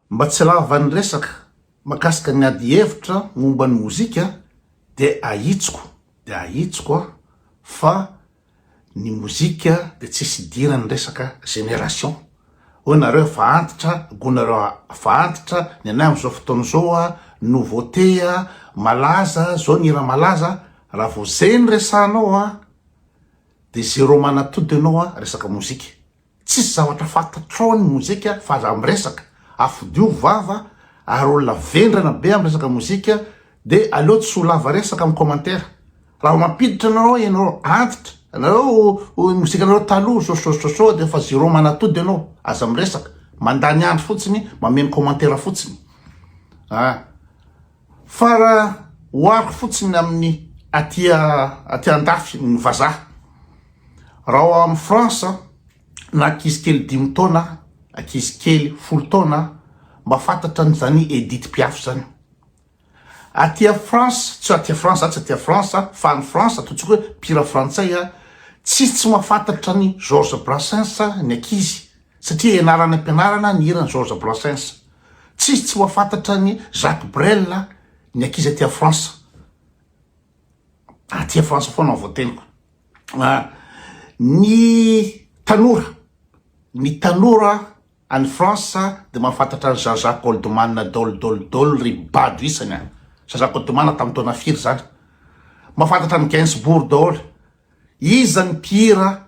Mba tsy lavan'ny resaka makasika ny ady hevitra momba ny mozika de ahitsiko de ahitsiko a fa ny mozika de tsisy idiran'ny resaka génération oe nareo efa antitra go nareo efa antitra ny anay amzao fotoana zao a nouveauté a malaza zao ny hira malaza raha vao zay ny resahanao a de zero manatody enao a resaka mozika. Tsisy zavatra fantatrao ny mozika fa aza miresaka, afodio vava ary olona vendrana be am resaka mozika de aleo tsy ho lava resaka am commentaire raha vao mampiditra anareo ianareo antitra anareo o mozika anareo taloha sosososoa de efa zero manatody ianao aza miresaka mandany andro fotsiny mameno commentaire fotsiny ah Fa raha ohariko fotsiny amin'ny aty aty andafy ny vazaha, raha ao amin'ny France na ankizy kely dimy taona, ankizy kely folo taona mba fantatra an'izany Edith Piaf izany. Aty a France, tsy aty a France zany, tsy aty a France fa any France, ataontsika hoe mpihira frantsay, tsisy tsy mahafantatra an'i Georges Brassens ny ankizy satria ianara any am-pianarana ny hiran'i Georges Brassens. Tsisy tsy mahafantatra an'i Jacques Brel ny ankizy aty Frantsa. Aty Frantsa foana ny voateniko. Ah, ny tanora, ny tanora any Frantsa dia mahafantatra an'i Jean-Jacques Goldman Dol Dol Dol ry bado isany an. Jean-Jacques Goldman tamin'ny taona firy izany? Mahafantatra an'i Gainsbourg daholo. Iza ny mpihira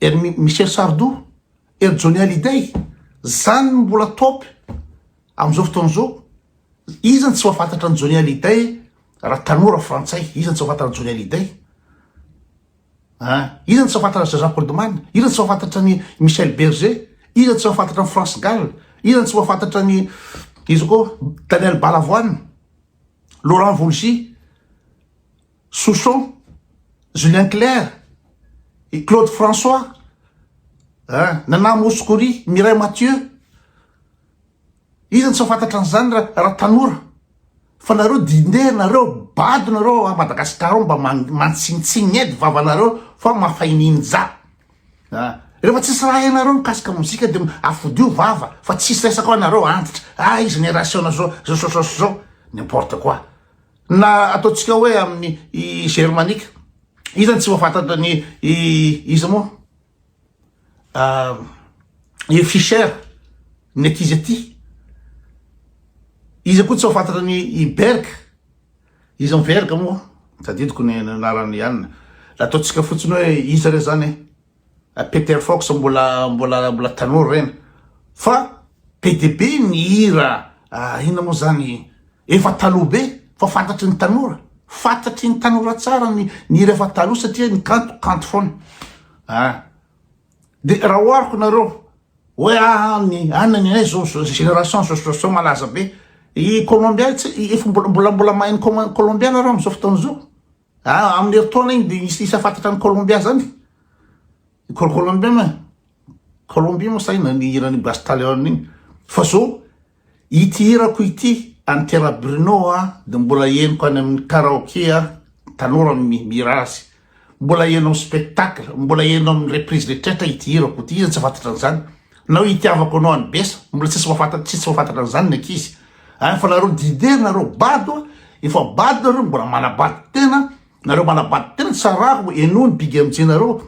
Ery Michel Sardou, ery Johnny Hallyday, zany no mbola top amin'izao fotoana izao. Iza no tsy mahafantatra an'i Johnny Hallyday raha tanora frantsay? Iza no tsy mahafantatra an'i Johnny Hallyday? Ah, iza no tsy mahafantatra an'i Jean-Jacques Goldman? Iza no tsy mahafantatra an'i Michel Berger? Iza no tsy mahafantatra an'i France Gall? Iza no tsy mahafantatra an'i iza koa Daniel Balavoine, Laurent Voulzy, Souchon, Julien Cler, i Claude François, ah, Nana Mouskouri, Mireille Mathieu, iza no tsy mahafantatra an'izany ra- raha tanora, fa nareo dinde nareo, bado nareo ao Madagascar ao mba man- mantsintsiny edy vavanareo fa mafainininja, ah, rehefa tsisy raha hainareo mikasika mozika de afodio vava fa tsisy resaka ao nareo antitra, ah, iza ny raha asehonareo zao, zao, zao, zao, zao, n'importe quoi, Na ataontsika hoe amin'ny germanika. Iza no tsy mahafantatra ny iza moa? I Fischer, ny aty izy aty. Iza koa tsy mahafantatra ny i Berg. Iza Berg moa? Tadidiko ny anarany ihany. Ataontsika fotsiny hoe iza re zany e. Peter Fox mbola mbola mbola tanora ireny fa be dia be ny hira inona moa zany efa taloha be fa fantatry ny tanora fantatry ny tanora tsara ny ny hira efa taloha satria ny kanto kanto foana a ah. de raha ohariko nareo hoe any any ny anay zao génération zao malaza be i colombiens efa mbola mbola mbola mahay ny colombiens nareo am'zao fotoana zao Ah, amin'ny herintaona iny dia misy isa fantatra any Colombia zany? Col- Colombia ma? Colombie moa sahy na ny hiran'i Busta Leone iny. Fa zao, ity hirako ity, an'i Terra Bruno a, dia mbola henoko any amin'ny karaoke a, tanora no mi- mihira azy. Mbola heno amin'ny spectacle, mbola heno amin'ny reprise rehetrarehetra ity hirako ity, iza no tsy hafantatra an'izany? Nao itiavako anao any besa. Mbola tsisy mafantatra tsisy mafantatra an'izany ny ankizy a fa nareo dider nareo bado a efa bado nareo no mbola manabado tena nareo manabado tena tsarako enoa ny big mj nareo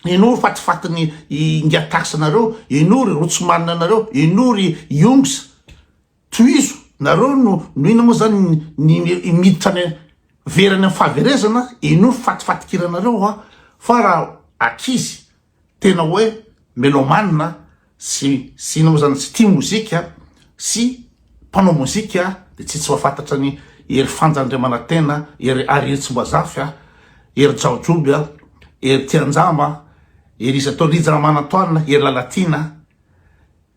enoa ny fatifatiny inga tax nareo enoa ry rotsimanina nareo enoa ry yongs tohizo nareo no no ina moa zany ny miditra any verany amin'ny fahaverezana enoa ny fatifatikira nareo a fa raha akizy tena hoe melomane sy sy inona moa zany tsy tia mozika sy mpanao mozika dia tsy tsy mahafantatra an'i Hery Fanja Andriamanantena, Hery ary Hery Tsimbazafy a, Hery Jaojoby a, Hery Tianjama, Hery Izy Atao, Rija Ramanantoanina, Hery Lalatiana,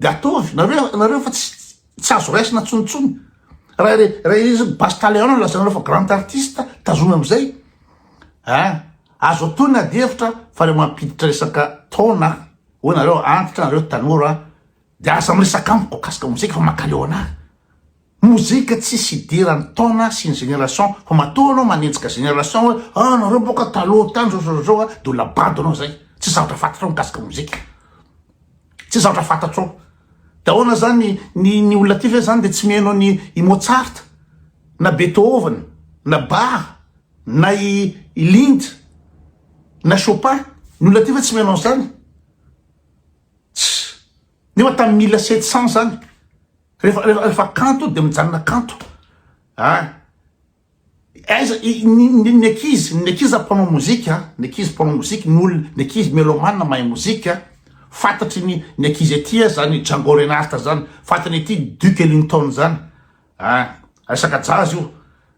de ataovy nareo nareo fa tsy tsy azo raisina tsonitsony raha re raha izy basy taleona no lazainareo fa grand artiste tazona amizay a ah, azo atao ny ady hevitra fa le mampiditra resaka taona hoe nareo antitra nareo tanora de aza miresaka amiko akasika mozika fa makaleo anahy Mozika tsisy idiran'ny taona sy ny génération fa matoa anao manenjika génération hoe ah nareo boka taloha tany zao zao zao de olona bado anao zay tsisy zavatra fantatrao mikasika mozika tsisy zavatra fantatrao de ahoana zany ny ny olona ty ve zany de tsy miheno ny i Mozart na Beethoven na Bach na i i Lind na Chopin ny olona ty ve tsy miheno an'zany nefa tamin'ny mille sept cent zany Rehefa rehefa rehefa kanto dia mijanona kanto ah aiza i- ny ny- ny ankizy ny ankizy zany mpanao mozika ah, ny ankizy mpanao mozika ny olona ny ankizy melomane mahay mozika ah. fantatry ny ny ankizy aty ah, zany Django Reinhardt zany fantany aty Duke Ellington zany ah resaka jazz io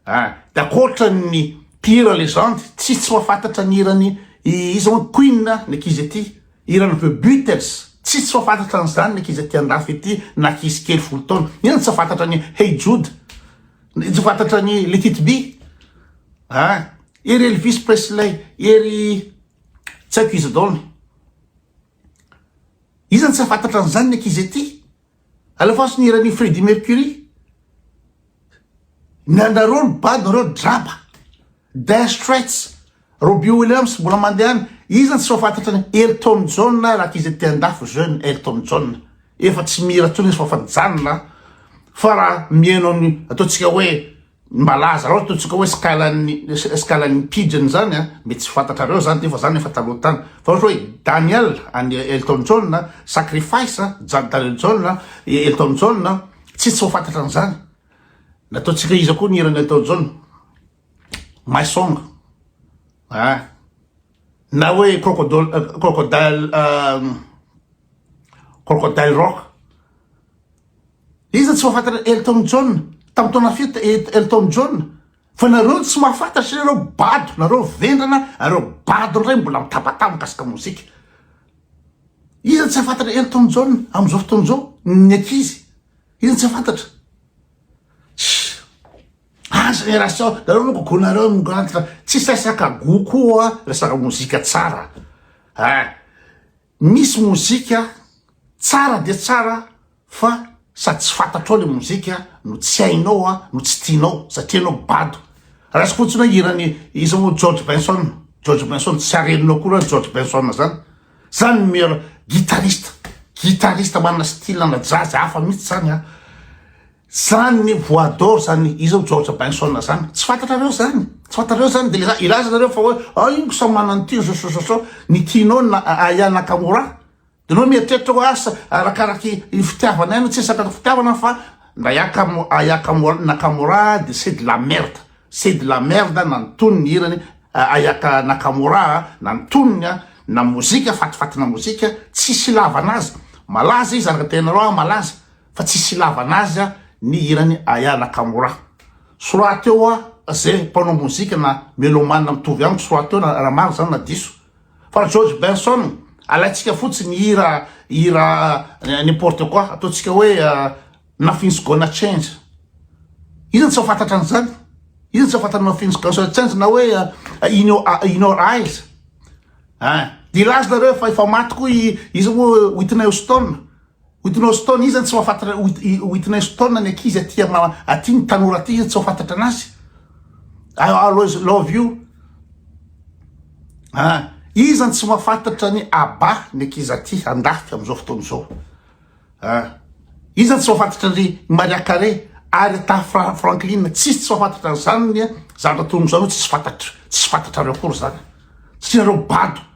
Ah de akoatran ny mpihira legende tsy tsy mahafantatra ny hiran'i iza moa Queen ny ankizy aty, hiran'i The Beatles tsy tsy mahafantatra an'izany ny ankizy aty andafy aty na ankizy kely folo taona, iza no tsy mahafantatra ny Hey Jude, iza no tsy mahafantatra ny Let it be ah ery Elvis Presley, ery tsy haiko iza daholo, iza no tsy mahafantatra an'izany ny ankizy aty. A la face ny hiran' i Freddie Mercury miandareo ny bado nareo draba Dire Straits Robbie Williams mbola mandeha any iza no tsy fafantatra ny Elton John raha qui était andafy jeune Elton John efa tsy mihira intsony izy fa fa nijanona fa raha mihaino ny ataontsika hoe ny malaza loatra ataontsika hoe skalan'ny skalan'ny pigeon zany a mety tsy fantatrareo zany ty fa zany efa taloha tany fa ohatra hoe Daniel an'i Elton John a sacrifice a ja- Daniel John a E- Elton John a tsy tsy ho fantatra an'izany nataontsika iza koa ny hiran'i Elton John my song a na hoe crocodile euh, crocodile euh, crocodile rock Iza tsy mahafantatra Elton John tamin'ny taona fito Elton John fa nareo tsy mahafantatra satria nareo bado nareo vendrana nareo bado indray mbola mitabataba mikasika mozika iza tsy hafantatra Elton John amin'izao fotoana izao ny ankizy iza tsy hafantatra ah génération nareo no gogonareo migantitra tsy sasaka gokoa resaka mozika tsara ah Misy mozika tsara dia tsara fa sady tsy fantatrao ilay mozika no tsy hainao a no tsy tianao satria ianao bado. Raisiko fotsiny hoe hiran'i iza moa George Benson, George Benson tsy arenina akory an George Benson zany. Zany ny meilleur guitariste, guitariste manana style ana jazz hafa mihitsy zany a. Zany ny voix d'or zany izao George Benson zany tsy fantatrareo zany tsy fantatrareo zany de le ilaza nareo fa hoe ah ingo samy manana ny tiany sosososo ny tianao na Aya Nakamura de anao mieritreritra hoe asa arakaraky ny fitiavana ihany tsy resaka ny fitiavana fa ndray aka Aya Nakamura de c'est de la merde c'est de la merde na ny tonony hirany Aya Nakamura na ny tonony a na mozika fatifatina mozika tsisy ilavana azy malaza izy araka ny tenanareo ah malaza fa tsisy ilavana azy ny hiran'i Aya Nakamura. Tsy rahateo hoa ze mpanao mozika na melomane mitovy amiko tsy rahateo raha marina zany na diso fa George Benson alaintsika fotsiny ny hira hira n'importe quoi ataontsika hoe nothing's gonna change iza tsy fantatra an'izany iza tsy fantatra nothing's gonna change na hoe in your, in your eyes eh, dia laza nareo fa efa maty koa izy moa Whitney Houston Witness Stone iza no tsy mahafantatra Witness Stone ny ankizy aty aty ny tanora aty iza no tsy mahafantatra anazy I always love you ah iza no tsy mahafantatra ny Abba ny ankizy aty andafika amizao fotoana izao ah iza no tsy mahafantatra ny Maria Carey Aretha Franklin tsisy tsy mahafantatra an'izany ny zavatra toy izany tsisy fantatra tsisy fantatrareo akory izany satria nareo bado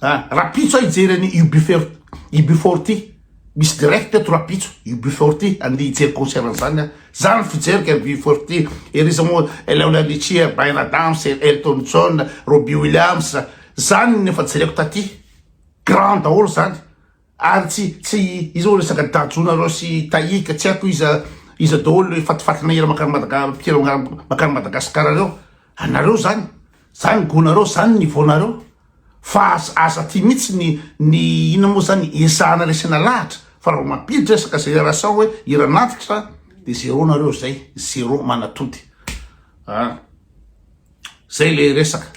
Ah, rapitso hijery any Ubifer, Ubifor ty. Misy direct eto rapitso, Ubifor ty. Andeha hijery concert an'izany aho. Za ny fijeriko any Ubifor ty. Ery za moa Leona Richie, Bryan Adams, Elton John, Robbie Williams. Zany ny efa jereko taty. Grand daholo zany. Ary tsy tsy izao resaka Dajo nareo sy Tahika tsy haiko iza iza daholo le fatifatina hira makany Madaga mpihira makany Madagasikara reo anareo zany zany goût nareo zany niveau nareo fa aza aza aty mitsy ny ny inona moa zany ezahana resena lahatra fa raha vao mampiditra resaka génération hoe hira nantitra de zéro nareo zay zéro manatody ah zay le resaka.